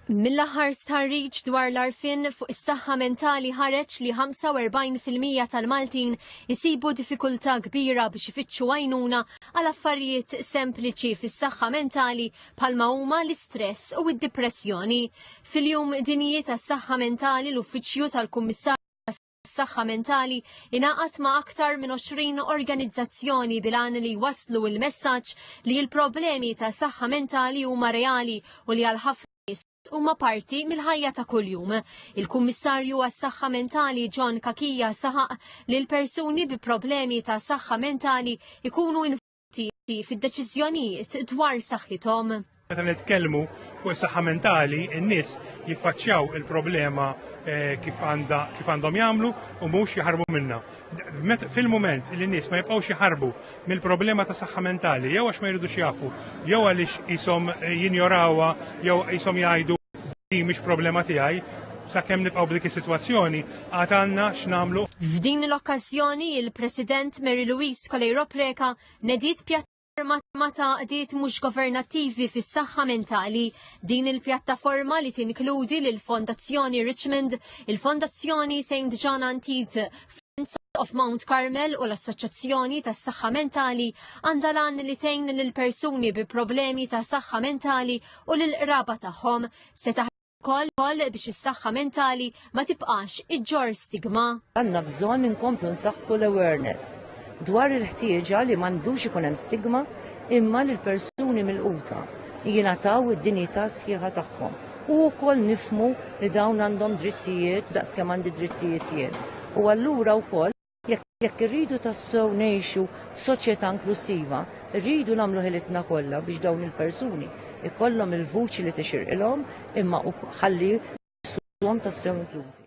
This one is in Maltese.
Mill-aħħar stħarriġ dwar l-arfin fuq is-saħħa mentali ħareġ li 45% tal-Maltin isibu diffikultà kbira biex ifittxu għajnuna għal affarijiet sempliċi fis-saħħa mentali bħalma huma l-istress u d-dipressjoni. Fil-jum dinji tas-saħħa mentali l-Uffiċċju tal-Kummissarju saħħa mentali ingħaqad ma' aktar minn 20 organizzazzjoni bilan li waslu il-messaġġ li l-problemi ta' saħħa mentali huma reali u li għal ħafna huma parti mill-ħajja ta' kuljum. Il-Kummissarju għas-Saħħa Mentali John Kakija saħaq li l-persuni bi problemi ta' saħħa mentali ikunu fid-deċiżjonijiet dwar saħħithom. Meta nitkellmu fuq is-saħħa mentali, in-nies jiffaċċjaw il-problema eh, kif għandhom jagħmlu u mhux jaħarbu minnha. Fil-mument li n-nies ma jibqgħux jaħarbu mill-problema ta' saħħa mentali, jew għax ma jridux jafu, jew għaliex ishom eh, jinjorawha, jew ishom jgħidu mhix problema tiegħi, sakemm nibqgħu b'dik is-sitwazzjoni, Għad għandna x'nagħmlu. F'din l-okkażjoni il-President Mary Louise Coleiro Preca nediet pjat Forma ta' għadiet mhux governattivi fis-saħħa mentali. Din il-pjattaforma li tinkludi lil fondazzjoni Richmond, il-Fondazzjoni St. John Antid, Friends of Mount Carmel u l-Assoċjazzjoni tas saħħa Mentali għandha lan li tgħin lil persuni bi problemi ta' saħħa mentali u lil qraba tagħhom se Koll koll biex is-saħħa mentali ma tibqax iġġor stigma. Għandna bżonn inkomplu nsaħħu l-awareness dwar il-ħtieġa li m'għandux ikun hemm stigma imma li l-persuni mill-quta jingħataw id-dinjità sħiħa tagħhom. U wkoll nifmu li dawn għandhom drittijiet daqskemm għandi drittijiet jien. U allura wkoll Jekk irridu tassew ngħixu f'soċjetà inklussiva, rridu nagħmlu ħilitna kollha biex dawn il-persuni ikollhom il-vuċi li tixirqilhom imma ħalli jissuhom tassew inklużi.